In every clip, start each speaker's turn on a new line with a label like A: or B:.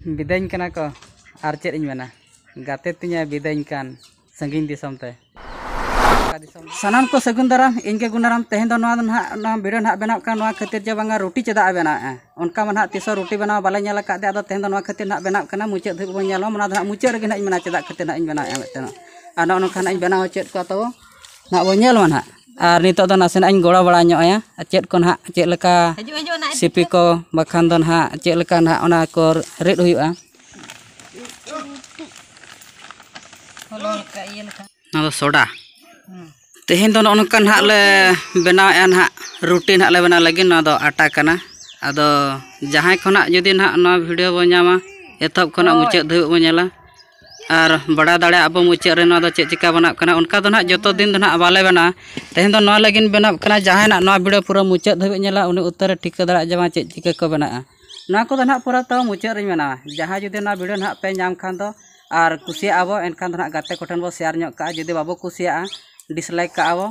A: ᱵᱤᱫᱟᱹᱧ ᱠᱟᱱᱟ ᱠᱚ ᱟᱨ ᱪᱮᱫ ᱤᱧ ᱢᱮᱱᱟ ᱜᱟᱛᱮ ᱛᱤᱧᱮ ᱵᱤᱫᱟᱹᱧ ᱠᱟᱱ ᱥᱟᱺᱜᱤᱧ ᱫᱤᱥᱚᱢ ᱛᱮ ᱥᱟᱱᱟᱢ ᱠᱚ ᱥᱟᱹᱜᱩᱱ ᱫᱟᱨᱟᱢ ᱤᱧ ᱜᱮ ᱜᱩᱱᱟᱨᱟᱢ ᱛᱮᱦᱮᱧ ᱫᱚ ᱱᱚᱣᱟ ᱫᱚ ᱱᱟᱦᱟᱜ ᱱᱚᱣᱟ ᱵᱷᱤᱰᱤᱭᱳ ᱱᱟᱦᱟᱜ ᱵᱮᱱᱟᱣ ᱠᱟᱱᱟ ᱱᱚᱣᱟ ᱠᱷᱟᱹᱛᱤᱨ ᱡᱮ ᱵᱟᱝᱟ ᱨᱩᱴᱤ ᱪᱮᱫᱟᱜ ᱮ ᱵᱮᱱᱟᱣᱮᱜᱼᱟ ᱚᱱᱠᱟ ᱢᱟ ᱱᱟᱦᱟᱜ ᱛᱤᱥ ᱦᱚᱸ ᱨᱩᱴᱤ ᱵᱮᱱᱟᱣ ᱵᱟᱞᱮ ᱧᱮᱞ ᱟᱠᱟᱫᱮ ᱟᱫᱚ ᱛᱮᱦᱮᱧ ᱫᱚ ᱱᱚᱣᱟ ᱠᱷᱟᱹᱛᱤᱨ ᱱᱟᱦᱟᱜ ᱵᱮᱱᱟᱣ ᱠᱟᱱᱟ ᱢᱩᱪᱟᱹᱫ ᱫᱷᱟᱹᱵᱤᱡ ᱵᱚᱱ ᱧᱮᱞᱟ ᱚᱱᱟ ᱫᱚ ᱱᱟᱦᱟᱜ ᱢᱩᱪᱟᱹᱫ ᱨᱮᱜᱮ ᱱᱟᱦᱟᱜ ᱤᱧ ᱢᱮᱱᱟ ᱪᱮᱫᱟᱜ ᱠᱷᱟᱹᱛᱤᱨ ᱱᱟᱦᱟᱜ ᱤᱧ ᱵᱮᱱᱟᱣᱮᱜᱼᱟ ᱢᱤᱫᱴᱮᱱ ᱟᱨ ᱱᱚᱜᱼᱚ ᱱᱚᱝᱠᱟ ᱱᱟᱦᱟᱜ ᱤᱧ ᱵᱮᱱᱟᱣ ᱦᱚᱪᱚᱭᱮᱫ ᱠᱚᱣᱟ ᱛᱟᱵᱚ ᱱᱟᱦᱟᱜ ᱵᱚᱱ ᱧᱮᱞ ᱢᱟ ᱱᱟᱦᱟᱜ ᱟᱨ ᱱᱤᱛᱳᱜ ᱫᱚ ᱱᱟᱥᱮᱱᱟᱜ ᱤᱧ ᱜᱚᱲᱚ ᱵᱟᱲᱟ ᱧᱚᱜ ᱟᱭᱟ ᱟᱨ ᱪᱮᱫ ᱠᱚ ᱱᱟᱦᱟᱜ ᱪᱮᱫ ᱞᱮᱠᱟ ᱥᱤᱯᱤ ᱠᱚ ᱵᱟᱠᱷᱟᱱ ᱫᱚ ᱱᱟᱦᱟᱜ ᱪᱮᱫ ᱞᱮᱠᱟ ᱱᱟᱦᱟᱜ ᱚᱱᱟ ᱠᱚ ᱨᱤᱫ ᱦᱩᱭᱩᱜᱼᱟ ᱱᱚᱣᱟ ᱫᱚ ᱥᱳᱰᱟ ᱛᱮᱦᱮᱧ ᱫᱚ ᱱᱚᱜᱼᱚ ᱱᱚᱝᱠᱟ ᱱᱟᱦᱟᱜ ᱞᱮ ᱵᱮᱱᱟᱣᱮᱫᱼᱟ ᱱᱟᱦᱟᱜ ᱨᱩᱴᱤ ᱱᱟᱦᱟᱜ ᱞᱮ ᱵᱮᱱᱟᱣ ᱞᱟᱹᱜᱤᱫ ᱱᱚᱣᱟ ᱫᱚ ᱟᱴᱟ ᱠᱟᱱᱟ ᱟᱫᱚ ᱡᱟᱦᱟᱸᱭ ᱠᱷᱚᱱᱟᱜ ᱡᱩᱫᱤ ᱱᱟᱦᱟᱜ ᱱᱚᱣᱟ ᱵᱷᱤᱰᱤᱭᱳ ᱵᱚᱱ ᱧᱟᱢᱟ ᱮᱛᱚᱦᱚᱵ ᱠᱷᱚᱱᱟᱜ ᱢᱩᱪᱟᱹᱫ ᱫᱷᱟᱹᱵᱤᱡ ᱵᱚᱱ ᱧᱮᱞᱟ ᱟᱨ ᱵᱟᱲᱟᱭ ᱫᱟᱲᱮᱭᱟᱜ ᱟᱵᱚ ᱢᱩᱪᱟᱹᱫ ᱨᱮ ᱱᱚᱣᱟ ᱫᱚ ᱪᱮᱫ ᱪᱤᱠᱟᱹ ᱵᱮᱱᱟᱜ ᱠᱟᱱᱟ ᱚᱱᱠᱟ ᱫᱚ ᱱᱟᱦᱟᱜ ᱡᱚᱛᱚ ᱫᱤᱱ ᱫᱚ ᱱᱟᱦᱟᱜ ᱵᱟᱞᱮ ᱵᱮᱱᱟᱣᱟ ᱛᱮᱦᱮᱧ ᱫᱚ ᱱᱚᱣᱟ ᱞᱟᱹᱜᱤᱫ ᱵᱮᱱᱟᱣ ᱠᱟᱱᱟ ᱡᱟᱦᱟᱸᱭ ᱱᱟᱦᱟᱜ ᱱᱚᱣᱟ ᱵᱷᱤᱰᱭᱳ ᱯᱩᱨᱟᱹ ᱢᱩᱪᱟᱹᱫ ᱫᱷᱟᱹᱵᱤᱡ ᱧᱮᱞᱟ ᱩᱱᱤ ᱩᱛᱟᱹᱨᱮ ᱴᱷᱤᱠᱟᱹ ᱫᱟᱲᱮᱭᱟᱜᱼᱟ ᱡᱮ ᱵᱟᱝ ᱪᱮᱫ ᱪᱤᱠᱟᱹ ᱠᱚ ᱵᱮᱱᱟᱜᱼᱟ ᱱᱚᱣᱟ ᱠᱚᱫᱚ ᱱᱟᱦᱟᱜ ᱯᱩᱨᱟᱹ ᱛᱟᱣ ᱢᱩᱪᱟᱹᱫ ᱨᱤᱧ ᱵᱮᱱᱟᱣᱟ ᱡᱟᱦᱟᱸᱭ ᱡᱩᱫᱤ ᱱᱚᱣᱟ ᱵᱷᱤᱰᱭᱳ ᱱᱟᱦᱟᱜ ᱯᱮ ᱧᱟᱢ ᱠᱷᱟᱱ ᱫᱚ ᱟᱨ ᱠᱩᱥᱤᱭᱟᱜᱼᱟ ᱵᱚᱱ ᱮᱱᱠᱷᱟᱱ ᱫᱚ ᱱᱟᱦᱟᱜ ᱜᱟᱛᱮ ᱠᱚᱴᱷᱮᱱ ᱵᱚᱱ ᱥᱮᱭᱟᱨ ᱧᱚᱜ ᱠᱟᱜᱼᱟ ᱡᱩᱫᱤ ᱵᱟᱵᱚ ᱠᱩᱥᱤᱭᱟᱜᱼᱟ ᱰᱤᱥᱞᱟᱭᱤᱠ ᱠᱟᱜᱼᱟ ᱵᱚᱱ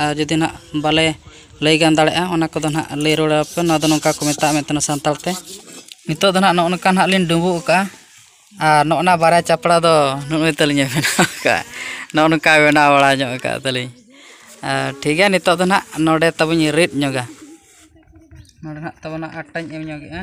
A: ᱟᱨ ᱡᱩᱫᱤ ᱱᱟᱜ ᱵᱟᱞᱮ ᱞᱟᱹᱭ ᱜᱟᱱ ᱫᱟᱲᱮᱭᱟᱜᱼᱟ ᱚᱱᱟ ᱠᱚᱫᱚ ᱱᱟᱜ ᱞᱟᱹᱭ ᱨᱩᱣᱟᱹᱲ ᱟᱯᱮ ᱱᱚᱣᱟ ᱫᱚ ᱱᱚᱝᱠᱟ ᱠᱚ ᱢᱮᱛᱟᱜᱼᱟ ᱢᱮᱱᱛᱮ ᱥᱟᱱᱛᱟᱲ ᱛᱮ ᱱᱤᱛᱚᱜ ᱫᱚ ᱱᱟᱜ ᱱᱚᱜᱼᱚ ᱱᱚᱝᱠᱟ ᱱᱟᱜ ᱞᱤᱧ ᱰᱩᱸᱵᱩᱜ ᱠᱟᱜᱼᱟ ᱟᱨ ᱱᱚᱜᱼᱚ ᱱᱟ ᱵᱟᱨᱭᱟ ᱪᱟᱯᱲᱟ ᱫᱚ ᱱᱩᱜᱼᱩᱭ ᱛᱟᱹᱞᱤᱧ ᱵᱮᱱᱟᱣ ᱠᱟᱜᱼᱟ ᱱᱚᱜᱼᱚ ᱱᱚᱝᱠᱟ ᱵᱮᱱᱟᱣ ᱵᱟᱲᱟ ᱧᱚᱜ ᱠᱟᱜᱼᱟ ᱛᱟᱹᱞᱤᱧ ᱟᱨ ᱴᱷᱤᱠ ᱜᱮᱭᱟ ᱱᱤᱛᱚᱜ ᱫᱚ ᱱᱟᱜ ᱱᱚᱰᱮ ᱛᱟᱵᱚᱱ ᱤᱧ ᱨᱤᱫ ᱧᱚᱜᱟ ᱱᱚᱰᱮ ᱱᱟᱜ ᱛᱟᱵᱚᱱ ᱟᱴᱟᱧ ᱮᱢ ᱧᱚᱜᱮᱜᱼᱟ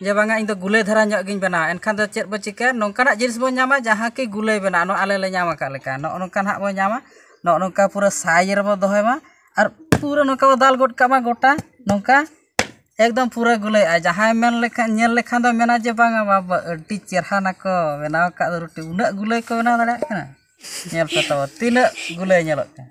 A: ᱡᱮ ᱵᱟᱝᱟ ᱤᱧᱫᱚ ᱜᱩᱞᱟᱹᱭ ᱫᱷᱟᱨᱟ ᱧᱚᱜ ᱜᱤᱧ ᱵᱮᱱᱟᱣᱟ ᱮᱱᱠᱷᱟᱱ ᱫᱚ ᱪᱮᱫ ᱵᱚᱱ ᱪᱤᱠᱟᱹᱭᱟ ᱱᱚᱝᱠᱟᱱᱟᱜ ᱡᱤᱱᱤᱥ ᱵᱚᱱ ᱧᱟᱢᱟ ᱡᱟᱦᱟᱸ ᱠᱤ ᱜᱩᱞᱟᱹᱭ ᱵᱮᱱᱟᱜᱼᱟ ᱱᱚᱣᱟ ᱟᱞᱮ ᱞᱮ ᱧᱟᱢ ᱟᱠᱟᱫ ᱞᱮᱠᱟ ᱱᱚᱜᱼᱚ ᱱᱚᱝᱠᱟ ᱦᱟᱸᱜ ᱵᱚᱱ ᱧᱟᱢᱟ ᱱᱚᱜᱼᱚ ᱱᱚᱝᱠᱟ ᱯᱩᱨᱟᱹ ᱥᱟᱭᱤᱡᱽ ᱨᱮᱵᱚᱱ ᱫᱚᱦᱚᱭ ᱢᱟ ᱟᱨ ᱯᱩᱨᱟᱹ ᱱᱚᱝᱠᱟ ᱵᱚᱱ ᱫᱟᱞ ᱜᱚᱫ ᱠᱟᱜ ᱢᱟ ᱜᱚᱴᱟ ᱱᱚᱝᱠᱟ ᱮᱠᱫᱚᱢ ᱯᱩᱨᱟᱹ ᱜᱩᱞᱟᱹᱭ ᱟᱨ ᱡᱟᱦᱟᱸᱭ ᱢᱮᱱ ᱞᱮᱠᱷᱟᱱ ᱧᱮᱞ ᱞᱮᱠᱷᱟᱱ ᱫᱚ ᱢᱮᱱᱟ ᱡᱮ ᱵᱟᱝᱟ ᱵᱟᱵᱟ ᱟᱹᱰᱤ ᱪᱮᱦᱨᱟ ᱱᱟᱠᱚ ᱵᱮᱱᱟᱣ ᱟᱠᱟᱫ ᱫᱚ ᱨᱩᱴᱤ ᱩᱱᱟᱹᱜ ᱜᱩᱞᱟᱹᱭ ᱠᱚ ᱵᱮᱱᱟᱣ ᱫᱟᱲᱮᱭᱟᱜ ᱠᱟᱱᱟ ᱧᱮᱞ ᱯᱮ ᱛᱟᱵᱚᱱ ᱛᱤᱱᱟᱹᱜ ᱜᱩᱞᱟᱹᱭ ᱧᱮᱞᱚᱜ ᱠᱟᱱᱟ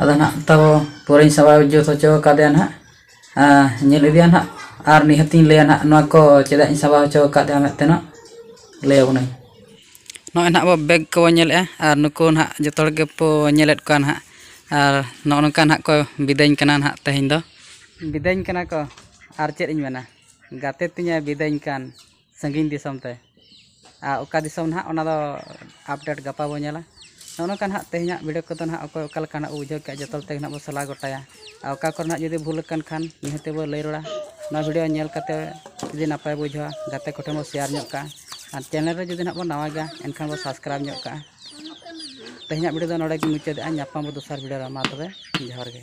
A: ᱟᱫᱚ ᱱᱟᱦᱟᱜ ᱛᱟᱵᱚ ᱯᱚᱨᱮᱧ ᱥᱟᱵ ᱡᱩᱛ ᱦᱚᱪᱚ ᱠᱟᱫᱮᱭᱟ ᱱᱟᱦᱟᱜ ᱧᱮᱞ ᱤᱫᱤᱭᱟ ᱱᱟᱦᱟᱜ ᱟᱨ ᱱᱤᱦᱟᱹᱛ ᱤᱧ ᱞᱟᱹᱭᱟ ᱱᱟᱦᱟᱜ ᱱᱚᱣᱟ ᱠᱚ ᱪᱮᱫᱟᱜ ᱤᱧ ᱥᱟᱵᱟᱣ ᱦᱚᱪᱚ ᱠᱟᱫᱮᱭᱟ ᱢᱮᱱᱛᱮ ᱱᱟᱦᱟᱜ ᱞᱟᱹᱭ ᱟᱵᱚᱱᱟᱹᱧ ᱱᱚᱜᱼᱚᱸᱭ ᱱᱟᱦᱟᱜ ᱟᱵᱚ ᱵᱮᱜᱽ ᱠᱚᱵᱚᱱ ᱧᱮᱞᱮᱜᱼᱟ ᱟᱨ ᱱᱩᱠᱩ ᱱᱟᱦᱟᱜ ᱡᱚᱛᱚ ᱦᱚᱲ ᱜᱮᱵᱚ ᱧᱮᱞᱮᱫ ᱠᱚᱣᱟ ᱱᱟᱦᱟᱜ ᱟᱨ ᱱᱚᱜᱼᱚᱸᱭ ᱱᱚᱝᱠᱟ ᱱᱟᱦᱟᱜ ᱠᱚ ᱵᱤᱫᱟᱹᱧ ᱠᱟᱱᱟ ᱱᱟᱦᱟᱜ ᱛᱮᱦᱮᱧ ᱫᱚ ᱵᱤᱫᱟᱹᱧ ᱠᱟᱱᱟ ᱠᱚ ᱟᱨ ᱪᱮᱫ ᱤᱧ ᱢᱮᱱᱟ ᱜᱟᱛᱮ ᱛᱤᱧᱮ ᱵᱤᱫᱟᱹᱧ ᱠᱟᱱ ᱥᱟᱺᱜᱤᱧ ᱫᱤᱥᱚᱢ ᱛᱮ ᱟᱨ ᱚᱠᱟ ᱫᱤᱥᱚᱢ ᱱᱟᱦᱟᱜ ᱚᱱᱟ ᱫᱚ ᱟᱯᱰᱮᱴ ᱜᱟᱯᱟ ᱵᱚᱱ ᱧᱮᱞᱟ ᱱᱚᱜᱼᱚ ᱱᱚᱝᱠᱟ ᱱᱟᱦᱟᱜ ᱛᱮᱦᱮᱧᱟᱜ ᱵᱷᱤᱰᱤᱭᱳ ᱠᱚᱫᱚ ᱱᱟᱦᱟᱜ ᱚᱠᱚᱭ ᱚᱠᱟ ᱞᱮᱠᱟ ᱱᱟᱦᱟᱜ ᱵᱚᱱ ᱵᱩᱡᱷᱟᱹᱣ ᱠᱮᱜᱼᱟ ᱡᱚᱛᱚ ᱦᱚᱲ ᱛᱮᱜᱮ ᱱᱟᱦᱟᱜ ᱵᱚᱱ ᱥᱟᱞᱟ ᱜᱚᱴᱟᱭᱟ ᱟᱨ ᱚᱠᱟ ᱠᱚᱨᱮ ᱱᱟᱦᱟᱜ ᱡᱩᱫᱤ ᱵᱷᱩᱞ ᱟᱠᱟᱱ ᱠᱷᱟᱱ ᱱᱤᱦᱟᱹᱛᱤ ᱵᱚᱱ ᱞᱟᱹᱭ ᱨᱩᱣᱟᱹᱲᱟ ᱱᱚᱣᱟ ᱵᱷᱤᱰᱤᱭᱳ ᱧᱮᱞ ᱠᱟᱛᱮᱫ ᱡᱩᱫᱤ ᱱᱟᱯᱟᱭ ᱵᱚᱱ ᱵᱩᱡᱷᱟᱹᱣᱟ ᱜᱟᱛᱮ ᱠᱚᱴᱷᱮᱱ ᱵᱚᱱ ᱥᱮᱭᱟᱨ ᱧᱚᱜ ᱠᱟᱜᱼᱟ ᱟᱨ ᱪᱮᱱᱮᱞ ᱨᱮ ᱡᱩᱫᱤ ᱱᱟᱦᱟᱜ ᱵᱚᱱ ᱱᱟᱣᱟ ᱜᱮᱭᱟ ᱮᱱᱠᱷᱟᱱ ᱵᱚᱱ ᱥᱟᱵᱥᱠᱨᱟᱭᱤᱵᱽ ᱧᱚᱜ ᱠᱟᱜᱼᱟ ᱛᱮᱦᱮᱧᱟᱜ ᱵᱷᱤᱰᱤᱭᱳ ᱫᱚ ᱱᱚᱰᱮ ᱜᱮᱧ ᱢᱩᱪᱟᱹᱫᱮᱜᱼᱟ ᱧᱟᱯᱟᱢ ᱟᱵᱚᱱ ᱫᱚᱥᱟᱨ ᱵᱷᱤᱰᱤᱭᱳ ᱨᱮ ᱢᱟ ᱛᱚᱵᱮ ᱡᱚᱦᱟᱨ ᱜᱮ